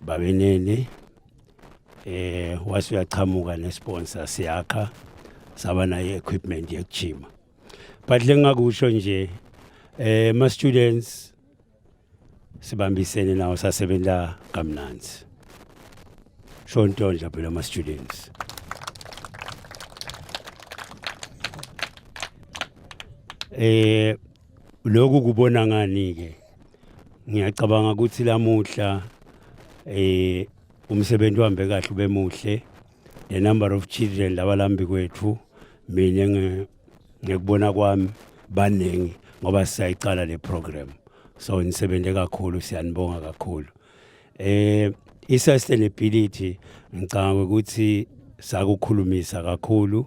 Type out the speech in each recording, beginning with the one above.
Babenene eh wase uyaqhamuka nesponsor siyakha saba nayo equipment yokujima but lengakusho nje eh ma students sibambisene nawo sasebenza kamnanzi sho into nje phela ma students eh Lokhu kubona ngani-ke ngiyacabanga ukuthi lamuhla eh umsebenzi uhambe kahle ube muhle the number of children labalambi kwethu mina nge- ngekubona kwami baningi ngoba sisayiqala le program so nisebenze kakhulu siyanibonga kakhulu eh i-sustainability ngicabanga ukuthi sakukhulumisa kakhulu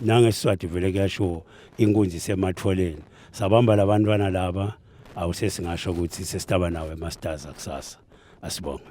nangesiswati vele kuyashiwo inkunzi isematholeni sabamba labantwana laba awusesingasho ukuthi sesitaba nawo emasters akusasa asibonge